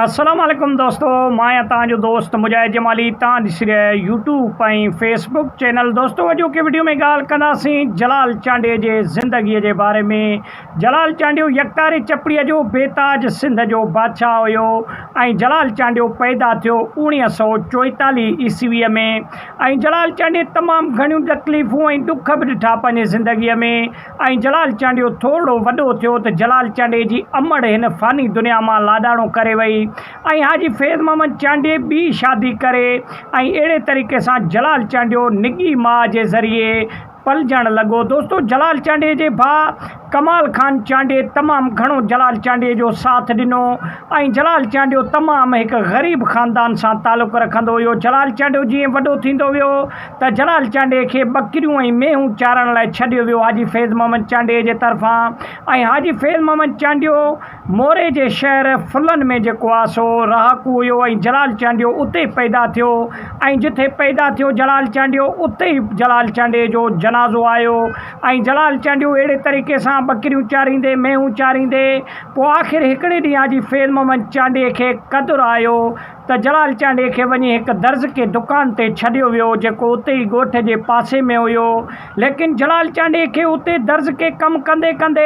السلام عليڪم دوستو مان آهيان توهان جو دوست مجاهد جمالي توهان ڏسي رهيا آهيو يوٽيوب ۽ فيس بڪ چينل دوستو اڄوڪي وڊيو ۾ ڳالهه ڪنداسين جلال چانڊيو جي زندگي جي باري ۾ جلال چانڊيو يڪتاري چپڙي جو بيتاج سنڌ جو بادشاهه هيو ۽ جلال چانڊيو پيدا ٿيو اوڻيهه سؤ چوئيتاليهه عيسوي ۾ ۽ جلال چانڊيو تمام گهڻيون تڪليفون ۽ ڏک به ڏٺا پنهنجي زندگي ۾ ۽ جلال چانڊيو ٿورڙو وڏو ٿيو ته جلال چانڊيي جي امڙ هن فاني دنيا مان لاڏاڻو ڪري وئي ۽ حاجي فيض محمد چانڊيي ٻي شادي ڪري ۽ اهڙي طريقي سان جلال چانڊيو نڳي ماء جي ذريعي پلجڻ لڳو. دوستو جلال چانڊيي جي ڀاء ڪمال خان چانڊيي تمام گهڻو جلال چانڊيي جو ساٿ ڏنو ۽ جلال چانڊيو تمام هڪ غريب خاندان سان تعلق رکندو هيو جلال چانڊيو جيئن وڏو ٿيندو ويو ته جلال چانڊيي کي ٻڪريون ۽ مينهون چارڻ لاء ڇڏيو ويو حاجي فيض محمد چانڊيي جي طرفان ۽ حاجي فيض محمد چانڊيو موري جي شهر فلن ۾ جيڪو آ سو رهاڪو هيو ۽ جلال چانڊيو اتي ئي پيدا ٿيو ۽ جٿي پيدا ٿيو جلال چانڊيو اتي ئي جلال چانڊيي جو جنازو آيو ۽ جلال چانڊيو اهڙي طريقي سان ٻڪريون چاريندي مينهون چاريندي پوء آخر هڪڙي ڏينهن حاجي فيض محمد چانڊيي کي قدر آيو ته جلال چانڊيي کي وڃي هڪ درز ڪي دڪان تي ڇڏيو ويو جيڪو اتي ئي ڳوٺ جي پاسي ۾ هيو ليڪن جلال چانڊيي کي اتي درز ڪي ڪم ڪندي ڪندي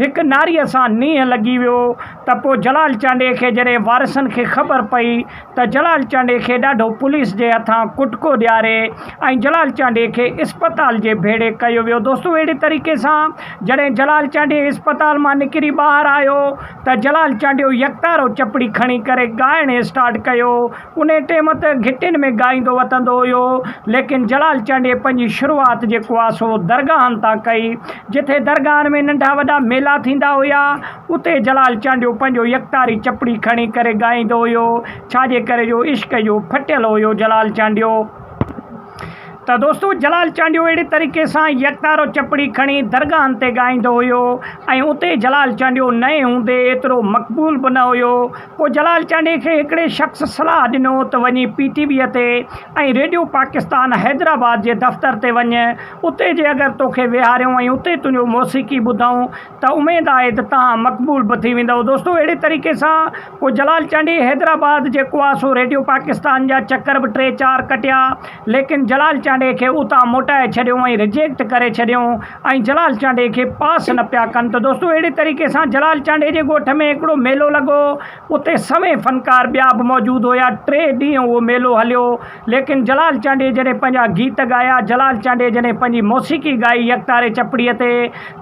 هڪ ناريء سان نينهن لڳي ويو ته پوء جلال چانڊيي کي جڏهن وارثن کي خبر پئي ته جلال چانڊيي کي ڏاڍو پوليس جي هٿان ڪٽڪو ڏياري ۽ جلال چانڊيي کي اسپتال جي ڀيڙي ڪيو ويو دوستو اهڙي طريقي سان جڏهن جلال چانڊيي اسپتال مان نڪري ٻاهر آيو ته جلال چانڊيو يڪتارو چپڙي کڻي ڪري ڳائڻ اسٽارٽ ڪيو. انهي ٽيم ته گهٽين ۾ ڳائيندو وتندو هيو، ليڪن جلال چانڊيي پنهنجي شروعات جيڪو آ سو درگاهن تان ڪئي. جٿي درگاهن ۾ ننڍا وڏا ميلا ٿيندا هيا، اتي جلال چانڊيو پنهنجو يڪتاري چپڙي کڻي ڪري ڳائيندو هيو، ڇاجي ڪري جو عشق جو ڦٽيل هيو جلال چانڊيو. ته دوستو جلال چانڊيو اهڙي طريقي سان يڪتارو چپڙي کڻي درگاهن تي ڳائيندو هيو ۽ اتي جلال چانڊيو نئين هوندي ايترو مقبول به نه هيو پوء جلال چانڊيي کي هڪڙي شخص صلاح ڏنو ته وڃي پي ٽي ويء تي ۽ ريڊيو پاڪستان حيدرآباد جي دفتر تي وڃ اتي جي اگر توکي ويهاريون ۽ اتي تنهنجو موسيقي ٻڌئون ته اميد آهي ته تهان مقبول به ٿي ويندئو دوستو اهڙي طريقي سان پوء جلال چانڊيي حيدرآباد جي ڪواسو ريڊيو پاڪستان جا چڪر به ٽي چار ڪٽيا، ليڪن جلال چانڊيي کي اتان موٽائي ڇڏيو ۽ رجيڪٽ ڪري ڇڏيو ۽ جلال چانڊيي کي پاس نه پيا ڪن ته دوستو اهڙي طريقي سان جلال چانڊيي جي ڳوٺ ۾ هڪڙو ميلو لڳو، اتي سوين فنڪار ٻيا به موجود هيا، ٽي ڏينهن اهو ميلو هليو. ليڪن جلال چانڊيي جڏهن پنهنجا گيت ڳايا، جلال چانڊيي جڏهن پنهنجي موسيقي ڳائي يڪتاري چپڙيء تي،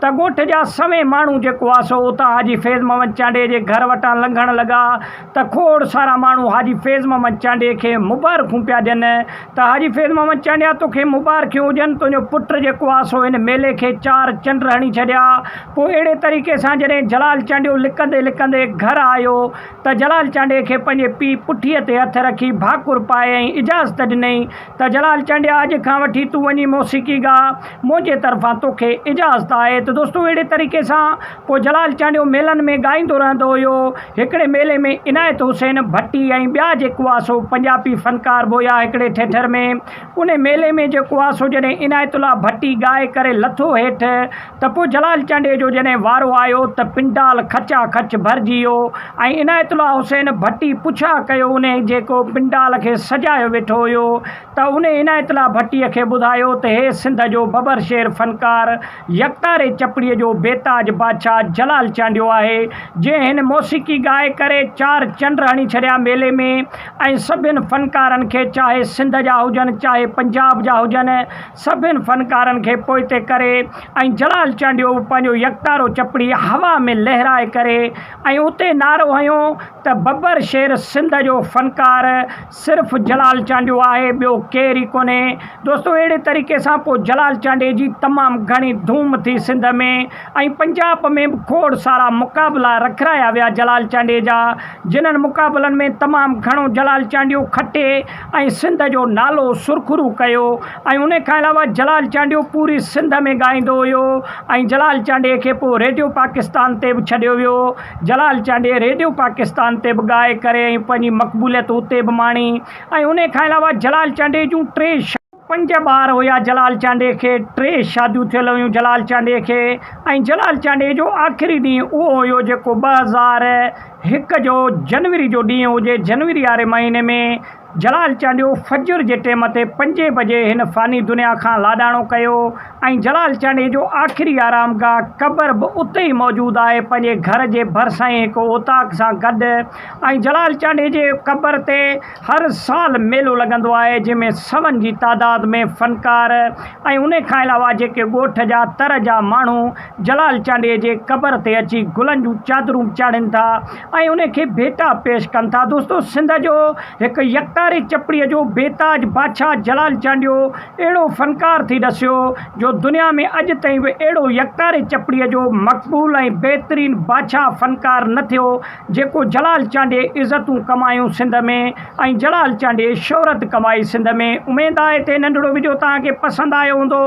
ته ڳوٺ جا سوين ماڻهو جيڪو ها سو اتان حاجي فيض محمد چانڊيي جي گهر وٽان لنگهڻ لڳا، ته کوڙ سارا ماڻهو حاجي فيض محمد چانڊيي کي مبارڪون پيا ڏين، ته حاجي فيض محمد چانڊيا توکي مبارڪيون هجن، تنهنجو پٽ جيڪو ها سو هن ميلي کي چار چنڊ هڻي ڇڏيا. پوء اهڙي طريقي سان جڏهن جلال چانڊيو لڪندي لڪندي گهر آيو، ته جلال چانڊيي کي پنهنجي پيء پٺيء تي هٿ رکي ڀاڪر پائي ۽ اجازت ڏنائين ته جلال چانڊيا اڄ کان وٺي تون وڃي موسيقي ڳاء، منهنجي طرفان توکي اجازت آهي ته دوستو اهڙي طريقي سان پوء جلال چانڊيو ميلن ۾ ڳائيندو رهندو هيو. هڪڙي ميلي ۾ عنايت حسين ڀٽي ۽ ٻيا جيڪوا سو پنجابي فنڪار به هيا هڪڙي ٺٽر ۾ انهي ميلي ۾ جيڪوا سو جڏهن عنايت الله ڀٽي ڳائي ڪري لٿو هيٺ ته پوء جلال چانڊيي جو جڏهن وارو آيو ته پنڊال کچا کچ ڀرجي ويو ۽ عنايت الله حسين ڀٽي پڇا ڪيو انهي جيڪو پنڊال کي سجايو ويٺو هيو ته انهي عنايت الله ڀٽي کي ٻڌايو ته هي سنڌ جو ببر شير فنڪار يڪتاري چپڙي جو بيتاج بادشاھ جلال چانڊيو آهي جنهن هن موسيقي ڳائي ڪري چار چنڊ هڻي ڇڏيا ميلي ۾ ۽ سڀين فنڪارن کي چاهي سنڌ جا هجن چاهي پنجاب جا هجن سڀني فنڪارن کي پوئتي ڪري ۽ جلال چانڊيو به پنهنجو يڪتارو چپڙي هوا ۾ لهرائي ڪري ۽ اتي نعرو هنيو ته ببر شير سنڌ جو فنڪار صرف جلال چانڊيو آهي ٻيو ڪير ئي ڪونهي دوستو اهڙي طريقي سان پوء جلال چانڊيي جي تمام گهڻي ڌوم ٿي سنڌ ۾ ۽ پنجاب ۾ به کوڙ سارا مقابلا رکرايا ويا جلال چانڊيي جا جنهن مقابلن ۾ تمام گهڻو جلال چانڊيو کٽي ۽ سنڌ جو نالو سرخرو ڪيو ۽ ان کان علاوه جلال چانڊيو پوري سنڌ ۾ ڳائيندو هيو ۽ جلال چانڊيي کي پوء ريڊيو پاڪستان تي به ڇڏيو ويو جلال چانڊيي ريڊيو پاڪستان تي به ڳائي ڪري ۽ پنهنجي مقبوليت اتي به ماڻي ۽ ان کان علاوه جلال چانڊيي جون ٽي پنج ٻار هيا جلال چانڊيي کي ٽي شاديون ٿيل هيون جلال چانڊيي کي ۽ جلال چانڊيي جو آخري ڏينهن اهو هيو جيڪو ٻه هزار هڪ جو جنوري جو ڏينهن هجي جنوري واري مهيني ۾ جلال چانڊيو فجر جي ٽيم تي پنجين بجي هن فاني دنيا کان لاڏاڻو ڪيو ۽ جلال چانڊيي جو آخري آرام گاهه قبر به اتي ئي موجود آهي پنهنجي گهر جي ڀرسان ئي هڪ اوطاق سان گڏ ۽ جلال چانڊيي جي قبر تي هر سال ميلو لڳندو آهي جنهن ۾ سون جي تعداد ۾ فنڪار ۽ ان کان علاوه جيڪي ڳوٺ جا تر جا ماڻهو جلال چانڊيي جي قبر تي اچي گلن جون چادرون چاڙهين ٿا ۽ ان کي ڀيٽا پيش ڪن ٿا دوستو سنڌ جو هڪ يڪتاري چپڙي جو بيتاج بادشاهه جلال چانڊيو اهڙو فنڪار ٿي ڏسيو جو دنيا ۾ اڄ تائين به اهڙو يڪتاري چپڙي جو مقبول ۽ بهترين بادشاهه فنڪار نه ٿيو جيڪو جلال چانڊيي عزتون ڪمايون سنڌ ۾ ۽ جلال چانڊيي شهرت ڪمائي سنڌ ۾ اميد آهي تي ننڍڙو وڊيو توهان کي پسند آيو هوندو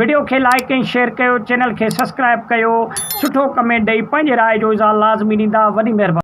وڊيو کي لائيڪ ۽ شيئر ڪيو چينل کي سسڪرائب ڪيو سٺو ڪمينٽ ڏئي پنهنجي راء جو اظهار لازمي ڏيندا وڏي مهرباني.